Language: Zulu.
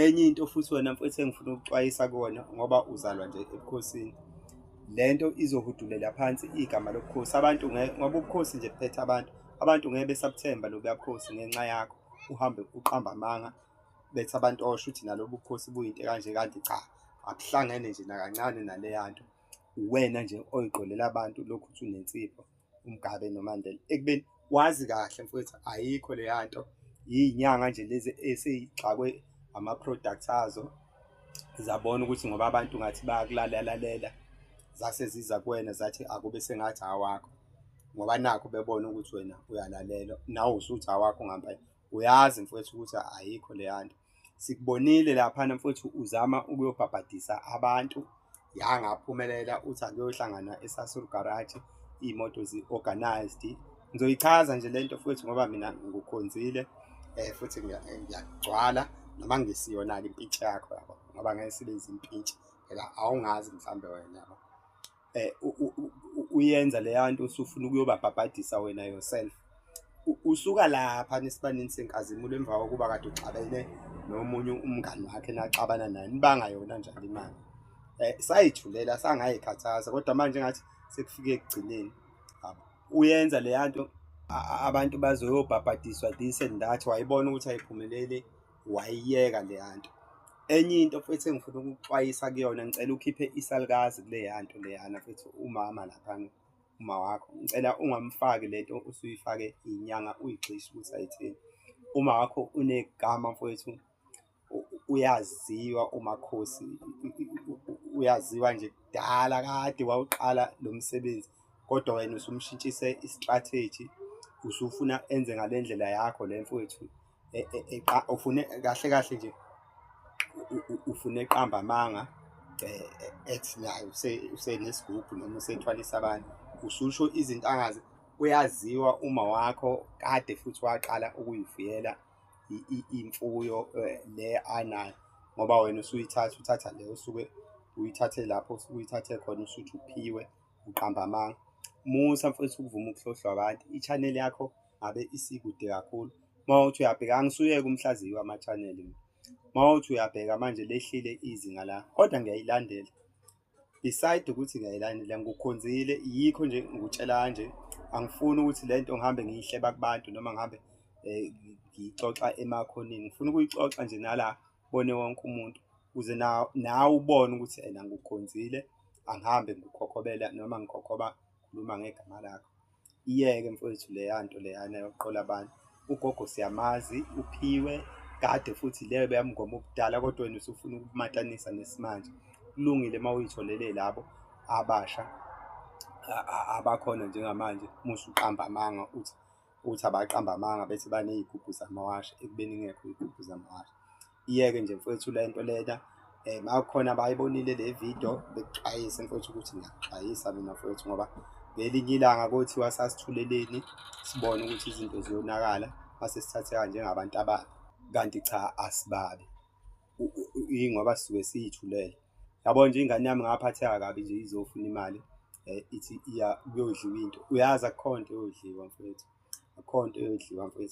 enye into futhi wena mfethu engifuna ukuxwayisa kona ngoba uzalwa nje ebukhosini lento izohudulela phansi igama lobukhosi abantu ngoba ubukhosi nje buphethe abantu abantu ngeke besabuthemba lobuya bukhosi ngenxa yakho uhambe uqamba amanga bethi abantu osho ukuthi nalobu bukhosi buyinto kanje kanti cha akuhlangene nje nakancane naleya nto uwena nje oyiqolela abantu lokhu uthi unensipho uMgabe noMandela ekubeni wazi kahle mfowethu ayikho leya nto yinyanga nje lezi eseyixakwe ama-products azo zabona ukuthi ngoba abantu ngathi bayakulalelalela zase ziza kuwena zathi akube sengathi awakho ngoba nakho bebona ukuthi wena uyalalela nawe usuthi awakho ngampela uyazi mfowethu ukuthi ayikho leya nto sikubonile laphana mfowethu uzama ukuyobhabhadisa abantu yangaphumelela uthi akuyohlangana esasur garage iy'moto zi-organized ngizoyichaza nje le nto futhi ngoba mina ngukhonzile um futhi ngiyagcwala noma ngisiyona-ke impintshi yakho yabo ngoba ngeke sibenze impintshi phela awungazi mhlawumbe wena yabo eh uyenza leya nto usufuna ukuyobabhabhadisa wena yourself usuka lapha nesibanini senkazimulo emva kokuba kade uxabene nomunye umngani wakhe naxabana naye nibanga yona njalo imali eh sayithulela sangayikhathaza kodwa manje ngathi sekufike ekugcineni uyenza leya nto abantu bazoyobhabhadiswa this and that wayibona ukuthi ayiphumeleli wayiyeka leya nto enye into futhi engifuna ukuxwayisa kuyona ngicela ukhiphe isalukazi kuleya nto leyana futhi umama laphana uma wakho ngicela ungamfaki le nto usuyifake inyanga uyigxishe ukuthi ayithini uma wakho unegama mfowethu uyaziwa umakhosi uyaziwa nje kudala kade wawuqala lo msebenzi kodwa wena usumshintshise i-strategy usufuna enze ngale ndlela yakho le mfowethu e, e, e, ufune kahle kahle nje ufune eqamba amanga ethi nayo usenesigubhu noma usethwalisa abantu ususho izinto angazi uyaziwa uma wakho kade futhi waqala ukuyifuyela imfuyo le anayo ngoba wena usuyithatha uthatha le usuke uyithathe lapho usuke uyithathe khona usuthi uphiwe uqamba amanga musa mfowethu ukuvuma ukuhlohlwa abantu i-channel yakho ngabe isikude kakhulu uma uthi uyabheka angisuyeke umhlaziyi wama-channel uma uthi uyabheka manje lehlile izinga la kodwa ngiyayilandela beside ukuthi ngiyayilandela ngikukhonzile yikho nje ngikutshela kanje angifuni ukuthi le nto ngihambe ngiyihleba kubantu noma ngihambe um ngiyixoxa emakhoneni ngifuna ukuyixoxa nje nala bone wonke umuntu ukuze nawe ubone ukuthi ena ngikukhonzile angihambe ngikhokhobela noma ngikhokhoba khuluma ngegama lakho Iyeke mfowethu leya nto leyana yokuqola abantu. Ugogo siyamazi, uphiwe kade futhi leyo beyamngoma ubudala kodwa wena usufuna ukumatanisa nesimanje. Kulungile uma uyitholele labo abasha abakhona njengamanje musa uqamba amanga uthi uthi abaqamba amanga bethi baney'gubhu zamawasha ekubeni ingekho iy'gubhu zamawasha. iyeke nje mfowethu le nto lena um makukhona abayibonile le video bekuxwayise mfowethu ukuthi ngiyakuxwayisa mina mfowethu ngoba ngelinye ilanga kothiwa sasithuleleni sibone ukuthi izinto ziyonakala mase sithatheka njengabantu ababi kanti cha asibabi ingoba sisuke siyithulele yabo nje ingane yami ngaphatheka kabi nje izofuna imali um ithi iya kuyodliwa into uyazi akukho nto yodliwa mfowethu akukho nto yodliwa mfowethu